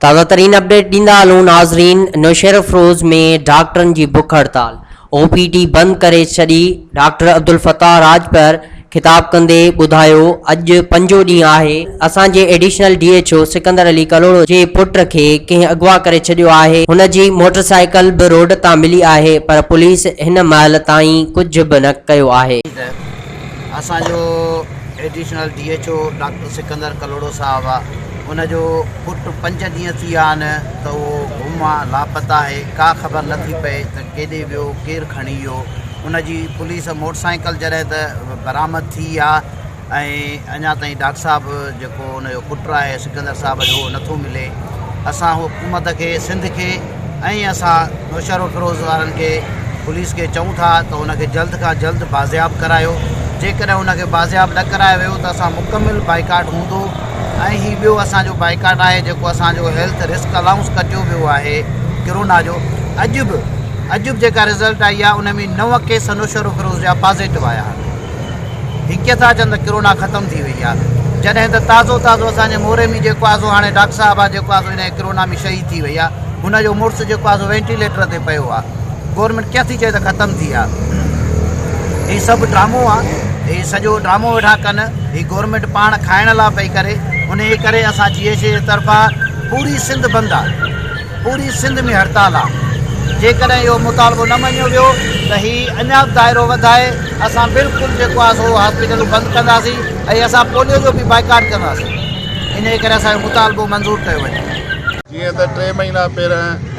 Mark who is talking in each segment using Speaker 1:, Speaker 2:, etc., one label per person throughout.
Speaker 1: تازه ترين اپڊيٽ ڏيندا هلون ناظرين نوشهرفروز ۾ ڊاڪٽرن جي بک هڙتال او پي ڊي بند ڪري ڇڏي، ڊاڪٽر عبدالفتاح راڄپر خطاب ڪندي ٻڌايو اڄ پنجون ڏينهن آهي اسان جي additional D H O Sikandar Ali Kalhoro جي پٽ کي ڪنهن اغوا ڪري ڇڏيو آهي هن جي موٽر سائيڪل به روڊ تان ملي آهي پر پوليس هن مهل تائين ڪجهه به نه ڪيو آهي. اسان جو additional
Speaker 2: D H O doctor Sikandar Kalhoro صاحب آ ان جو پٽ پنج ڏينهن ٿي ويا آهن ته اهو گم آ لاپتا آهي ڪا خبر نه ٿي پئي ته ڪيڏي ويو، ڪير کڻي ويو، ان جي پوليس موٽر سائيڪل جڏهن ته برآمد ٿي آ ۽ اڃا تائين ڊاڪٽر صاحب جيڪو ان جو پٽ آهي سڪندر صاحب جو اهو نٿو ملي اسان حڪومت کي سنڌ کي ۽ اسان نوشهرو فيروز وارن کي پوليس کي چئون ٿا ته ان کي جلد کان جلد بازياب ڪرايو جيڪڏهن ان کي بازياب نه ڪرايو ويو ته اسان مڪمل بائيڪاٽ هوندو ۽ هي ٻيو اسان جو بائيڪاٽ آهي جيڪو اسان جو هيلٿ رسڪ الائونس ڪٽيو ويو آهي ڪرونا جو اڄ به اڄ به جيڪا رزلٽ آئي آهي ان ۾ نو ڪيس نوشهرو فيروز جا پازيٽو آيا آهن هي ڪيئن ٿا چون ته ڪرونا ختم ٿي وئي آهي جڏهن ته تازو تازو اسان جي موري ۾ جيڪو آزو هاڻي ڊاڪٽر صاحب آهي جيڪو آزو هن ڪرونا ۾ شهيد ٿي وئي آهي هن جو مڙس جيڪو آزو وينٽيليٽر تي پيو آهي گورنمينٽ ڪيئن ٿي چئي ته ختم ٿي آ هي سڀ ڊرامو آ هي سڄو ڊرامو ويٺا ڪن هي گورنمينٽ پاڻ کائڻ لا پئي ڪري انهي ڪري اسان جي ايڇ اي طرفان پوري سنڌ بند آ پوري سنڌ ۾ هڙتال آ جيڪڏهن اهو مطالبو نه مڃيو ويو ته هي اڃا به دائرو وڌائي اسان بلڪل جيڪو آ سو هاسپيٽلون بند ڪنداسين ۽ اسان پوليو جو به بائيڪاٽ ڪنداسين انهي ڪري اسان جو مطالبو منظور ڪيو وڃي جيئن ته ٽي
Speaker 3: مهينا پهرين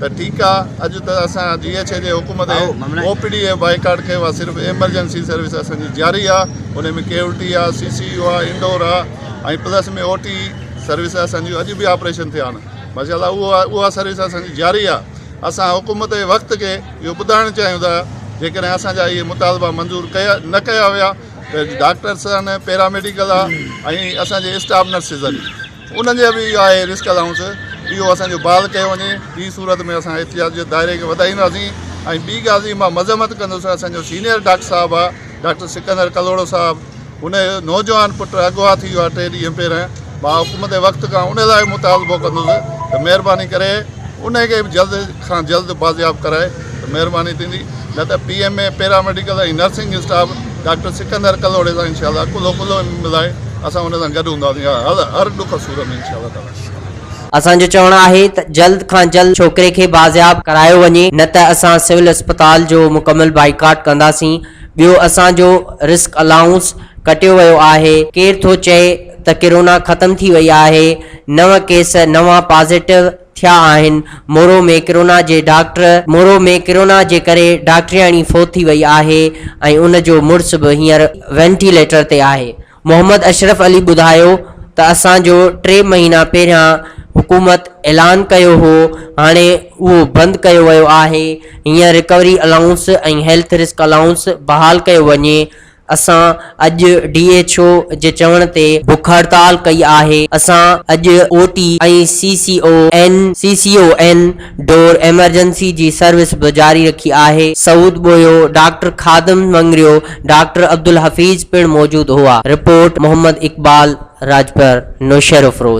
Speaker 3: ته ٺيڪ آ اڄ ته اسان جي ايڇ اي جي حڪم تي او پي ڊي اي بائيڪاٽ ڪيو آ صرف ايمرجنسي سروس اسان جي جاري آ انهي ۾ ڪيولٽي آ سي سي يو آ انڊور آ ۽ پلس ۾ او ٽي سروس اسان جون اڄ به آپريشن ٿيا آھن ماشاء الله اهو آ اها سروس اسان جي جاري آ اسان حڪومت جي وقت کي اهو ٻڌائڻ چاهيون ٿا جيڪڏهن اسان جا اهي مطالبا منظور ڪيا نه ڪيا ويا ته ڊاڪٽرس آھن پيرا ميڊيڪل آ ۽ اسان جي اسٽاف نرسز آھن انهن جي به اهو آهي رسڪ الائونس اهو اسان جو بحال ڪيو وڃي ٻي صورت ۾ اسان احتجاج جي دائري کي وڌائينداسين ۽ ٻي ڳالهه جي مان مذمت ڪندس اسان جو سينئر ڊاڪٽر صاحب آهي ڊاڪٽر سڪندر ڪلهوڙو صاحب ان جو نوجوان پٽ اغوا ٿي ويو آهي ٽي ڏينهن پهرين مان حڪومت وقت کان ان لاء مطالبو ڪندس ته مهرباني ڪري ان کي به جلد کان جلد بازياب ڪرائي ته مهرباني ٿيندي نه ته P M A paramedical ۽ nursing staff doctor Sikandar ڪلهوڙي سان انشاء الله ڪلهو ڪلهو ملائي اسان ان سان گڏ هونداسين هر هر ڏک سور ۾ انشاء الله تعاليٰ. اسان جو چوڻ
Speaker 1: آهي ته جلد کان جلد ڇوڪري کي بازياب ڪرايو وڃي نه ته اسان سول اسپتال جو مڪمل بائيڪاٽ ڪنداسين ٻيو اسان جو رسڪ الائونس ڪٽيو ويو آهي ڪير ٿو چئي ته ڪرونا ختم ٿي وئي آهي نو ڪيس نوان پازيٽو ٿيا آهن، مورو ۾ ڪرونا جي ڊاڪٽر مورو ۾ ڪرونا جي ڪري ڊاڪٽرياڻي فوت ٿي وئي آهي ۽ ان جو مڙس به هينئر وينٽيليٽر تي آهي، محمد اشرف علي ٻڌايو ته اسان جو ٽي مهينا پهريان حڪومت اعلان ڪيو هو هاڻي اهو بند ڪيو ويو آهي، هينئر recovery allowance ۽ health risk allowance بحال ڪيو وڃي اسان اڄ ڊي ايڇ او جي چوڻ تي بک هڙتال ڪئي آهي، اسان اڄ O T ۽ C C O N, CCON، door emergency جي سروس به جاري رکي آهي. سعود ٻوهيو، ڊاڪٽر خادم مڱريو، ڊاڪٽر عبدالحفيظ پڻ موجود هئا. رپورٽ، محمد اقبال راڄپر، نوشهروفروز.